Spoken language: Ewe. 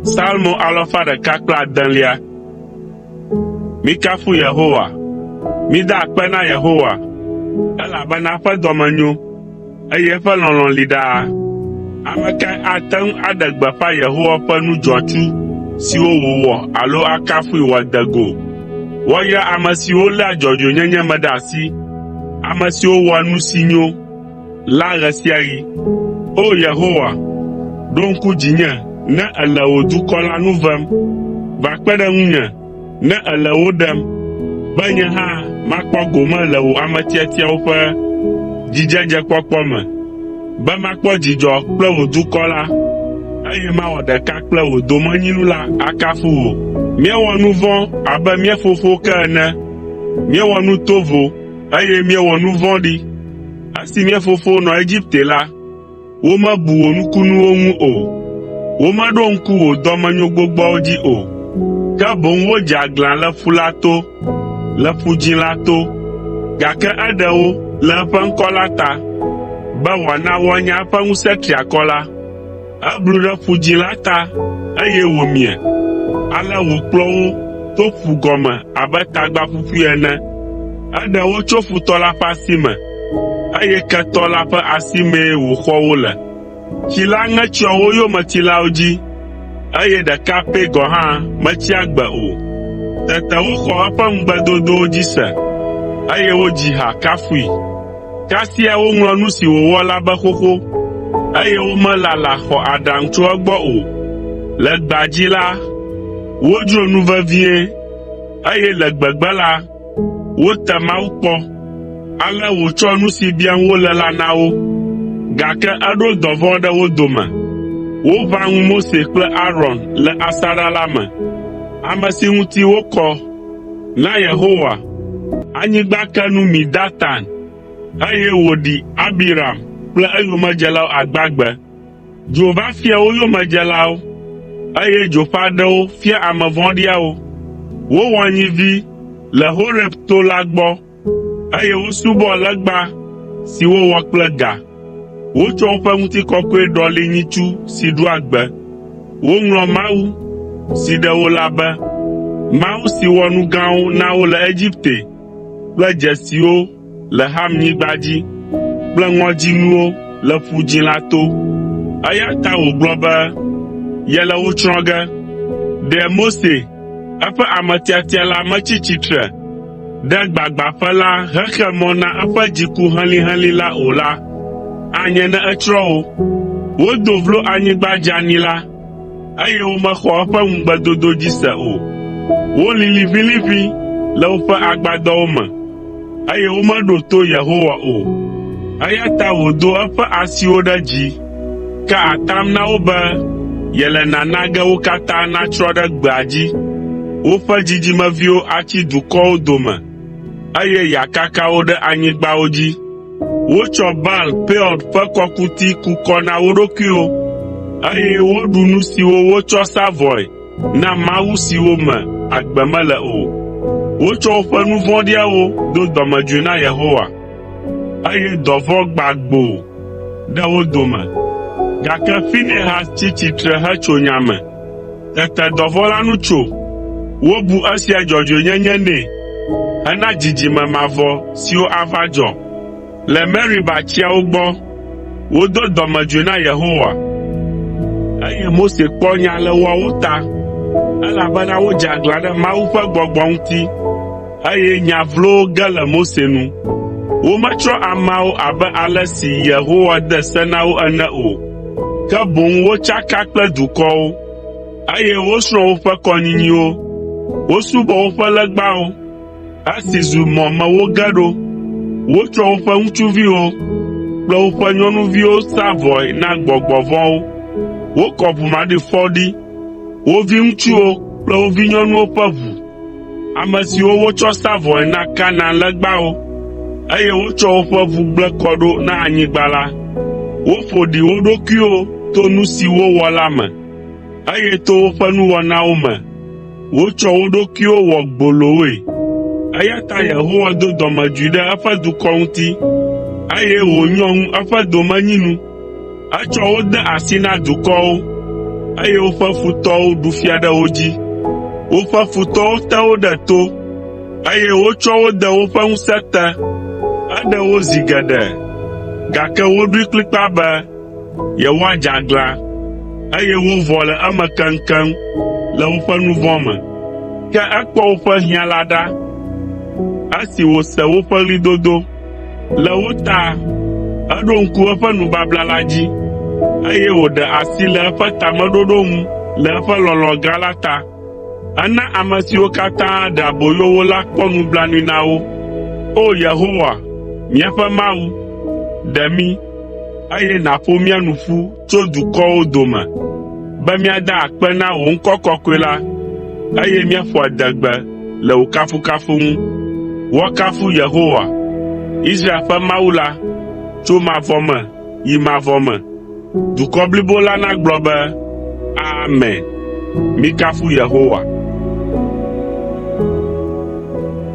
Salmo alafa ɖeka kple adelia. Mikafu Yehowa. Mida akpe na Yehowa, elabena eƒe dɔme nyo, eye eƒe lɔlɔ̃ li ɖaa. Ame kae ate ŋu aɖe gbeƒã Yehowa ƒe nu dzɔatsu siwo wòwɔ alo akafui wòade go? Woayra ame siwo léa dzɔdzɔenyenye me ɖe asi, ame siwo wɔa nu si nyo la ɣe sia ɣi. O! Yehowa, ɖo ŋku dzinye ne èle wò dukɔ la nu vem. Va kpe ɖe ŋunye ne èle wo ɖem, be nye hã makpɔ gome le wò ame tiatiawo ƒe dzidzedzekpɔkpɔ me, be makpɔ dzidzɔ kple wò dukɔ la, eye mawɔ ɖeka kple wò domenyinu la akafu wò. Míewɔ nu vɔ̃ abe mía fofowo ke ene. Míewɔ nu tovo, eye míewɔ nu vɔ̃ɖi. Esi mía fofo nɔ Egipte la, womebu wò nukunuwo ŋu o. Womeɖo ŋku wò dɔmenyo gbogboawo dzi o, ke boŋ wodze aglã le Ƒu la to, le Ƒu Dzĩ la to. Gake eɖe wo le eƒe ŋkɔ la ta, be wòana woanya eƒe ŋusẽ triakɔ la. Eblu ɖe Ƒu Dzĩ la ta, eye wòmie. Ale wòkplɔ wo to ƒu gɔme abe tagba ƒuƒui ene. Eɖe wo tso futɔ la ƒe asi me, eye ketɔ la ƒe asimee wòxɔ wo le. Tsi la ŋe tsyɔ wo yometilawo dzi, eye ɖeka pɛ gɔ̃ hã metsi agbe o. Tete woxɔ eƒe ŋugbedodowo dzi se, eye wodzi ha kafui. Kasia woŋlɔ nu si wòwɔ la be xoxo, eye womelala xɔ aɖaŋu tso egbɔ o. Le gbea dzi la, wodzro nu vevie, eye le gbegbe la, wote Mawu kpɔ. Ale wòtsɔ nu si biam wole la na wo. Gake eɖo dɔvɔ̃ ɖe wo dome. Woʋã ŋu Mose kple Aron le asaɖa la me, ame si ŋuti wokɔ Na Yehowa, anyigba ke nu mi Datan, eye wòɖi Abiram kple eyomedzelawo agbagbe. Dzo va fia wo yomedzelawo, eye dzo ƒe aɖewo fia ame vɔ̃ɖiawo. Wowɔ nyivi le Horeb to la gbɔ. eye wosubɔ legba si wowɔ kple ga. Wotsɔ woƒe ŋutikɔkɔe ɖɔli nyitsu si ɖua gbe. Woŋlɔ mawu, si ɖe wo la be, mawu si wɔ nu gãwo na wo le Egipte kple dzesiwo le Hamnyigba dzi kple ŋɔdzinuwo le Ƒu Dzĩ la to. Eya ta wògblɔ be yele wo tsrɔ̃ ge. Ɖe Mose, eƒe ame tiatia la metsi tsitre ɖe gbagbãƒe la hexe mɔ na eƒe dziku helĩhelĩ la o la, anye ne etsrɔ̃ wo. Wodo vlo anyigba dzeani la, eye womexɔ eƒe ŋugbedodo dzi se o. Wolĩ liʋĩliʋĩ le woƒe agbadɔwo me, eye womeɖo to Yehowa o. Eya ta wòdo eƒe asiwo ɖe dzi Ka atam na wo be yele nana ge wo katã natsrɔ̃ ɖe gbea dzi, woƒe dzidzimeviwo atsi dukɔwo dome, eye yeakaka wo ɖe anyigbawo dzi. Wotsɔ Baal Peor ƒe kɔkuti ku kɔ na wo ɖokuiwo, eye woɖu nu siwo wotsɔ sa vɔe na mawu siwo me agbe mele o. Wotsɔ woƒe nu vɔ̃ɖiawo do dɔmedzoe na Yehowa. eye dɔvɔ̃ gbã gboo ɖe wo dome. Gake Finehas tsi tsitre hetso nya me. Tete dɔvɔ̃ la nu tso. Wobu esia dzɔdzɔenyenye nɛ hena dzidzime mavɔ siwo ava dzɔ. Le Meriba tsiawo gbɔ, wodo dɔmedzoe na Yehowa, eye Mose kpɔ nya le woawo ta, elabena wodze aglã ɖe Mawu ƒe gbɔgbɔ ŋuti. Eye nya vlowo ge le Mose nu. Wometsrɔ̃ ameawo abe ale si Yehowa de se na wo ene o, ke boŋ wotsaka kple dukɔwo, eye wosrɔ̃ woƒe kɔnyinyiwo. Wosubɔ woƒe legbawo, esi zu mɔ me woge ɖo. Wotsɔ woƒe ŋutsuviwo kple woƒe nyɔnuviwo sa vɔe na gbɔgbɔ vɔ̃wo. Wokɔ ʋu maɖifɔ ɖi, wo viŋutsuwo kple wo vinyɔnuwo ƒe ʋu. Ame siwo wotsɔ sa vɔe na Kanaan legbawo, eye wotsɔ woƒe ʋu gblẽ kɔ ɖo na anyigba la, woƒo ɖi wo ɖokuiwo to nu si wowɔ la me, eye to woƒe nuwɔnawo me wotsɔ wo ɖokuiwo wɔ gbolowoe. Eya ta Yehowa do dɔmedzoe ɖe eƒe dukɔ ŋuti, eye wònyɔ ŋu eƒe domenyinu. Etsɔ wo de asi na dukɔwo, eye woƒe futɔwo ɖu fia ɖe wo dzi. Woƒe futɔwo te wo ɖe to, eye wotsɔ wo de woƒe ŋusẽ te. Eɖe wo zi geɖe, gake woɖoe kplikpaa be yewoadze aglã, eye wovɔ le eme keŋkeŋ le woƒe nu vɔ̃ me. Ke ekpɔ woƒe hiã la ɖa esi wòse woƒe ɣlidodo. Le wo ta, eɖo ŋku eƒe nubabla la dzi, eye wòɖe asi le eƒe tameɖoɖo ŋu le eƒe lɔlɔ̃ gã la ta. Ena ame siwo katã ɖe aboyo wo la kpɔ nublanui na wo. O Yehowa, míaƒe Mawu, ɖe mí, eye nàƒo mía nu ƒu tso dukɔwo dome be míada akpe na wò ŋkɔ kɔkɔe la, eye míaƒo adegbe le wò kafukafu ŋu. Woakafu Yehowa, Israel ƒe Mawu la, tso mavɔ me yi mavɔ me. Dukɔ blibo la nagblɔ be, “Amen!” Mikafu Yehowa.